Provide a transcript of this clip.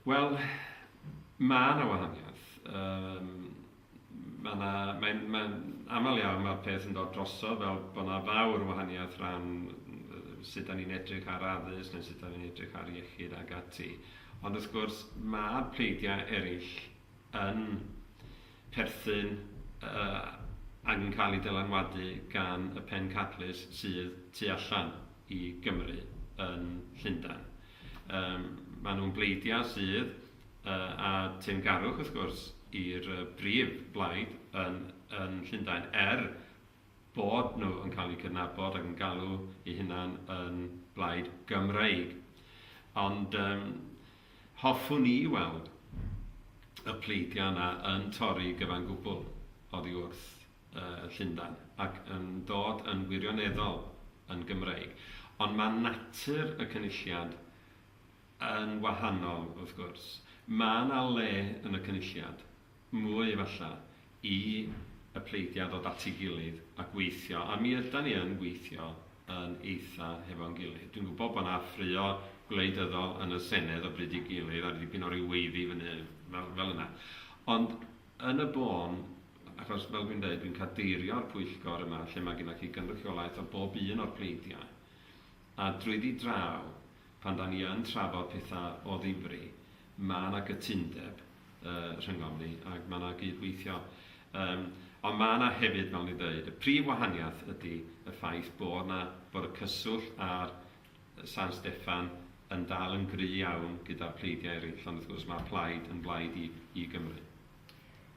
Wel, mae yna wahaniaeth. Um, mae yna, mae'n, mae aml iawn mae'r peth yn dod drosodd fel bod yna fawr wahaniaeth rhan sut da ni'n edrych ar addysg neu sut da ni'n edrych ar iechyd ag ati. Ond wrth gwrs, mae'r pleidiau eraill yn perthyn ac yn cael eu dylanwadu gan y pencadlys sydd tu allan i Gymru yn Llundain. Maen nhw'n bleidiau sydd, a teyrngarwch wrth gwrs, i'r brif blaid yn Llundain, er bod nhw yn cael eu cydnabod ac yn galw eu hunain yn blaid Gymreig. Ond um, hoffwn i weld y pleidiau yna yn torri gyfan gwbl oddi wrth uh, Llundan ac yn dod yn wirioneddol yn Gymreig. Ond mae natur y cynulliad yn wahanol, wrth gwrs. Mae yna le yn y cynulliad mwy efalla, i y pleidiau ddod at ei gilydd a gweithio, a mi ydan ni yn gweithio yn eitha' hefo'n gilydd. Dwi'n gwybod bod 'na ffraeo gwleidyddol yn y Senedd o bryd i'w gilydd ar ddipyn o ryw weiddi fyny fel fel yna. Ond yn y bôn, achos fel dwi'n deud, dwi'n cadeirio'r pwyllgor yma lle mae gennych chi gynrychiolaeth o bob un o'r pleidiau, a drwyddi draw, pan 'dan ni yn trafod petha' o ddifri, ma' 'na gytundeb, uh, rhyngom ni, ac mae yna gydweithio. Um, ond mae yna hefyd, fel ni dweud, y prif wahaniaeth ydy y ffaith bod yna bod y cyswllt ar San Steffan yn dal yn gry iawn gyda'r pleidiau eraill, ond wrth gwrs mae'r plaid yn blaid i, i Gymru.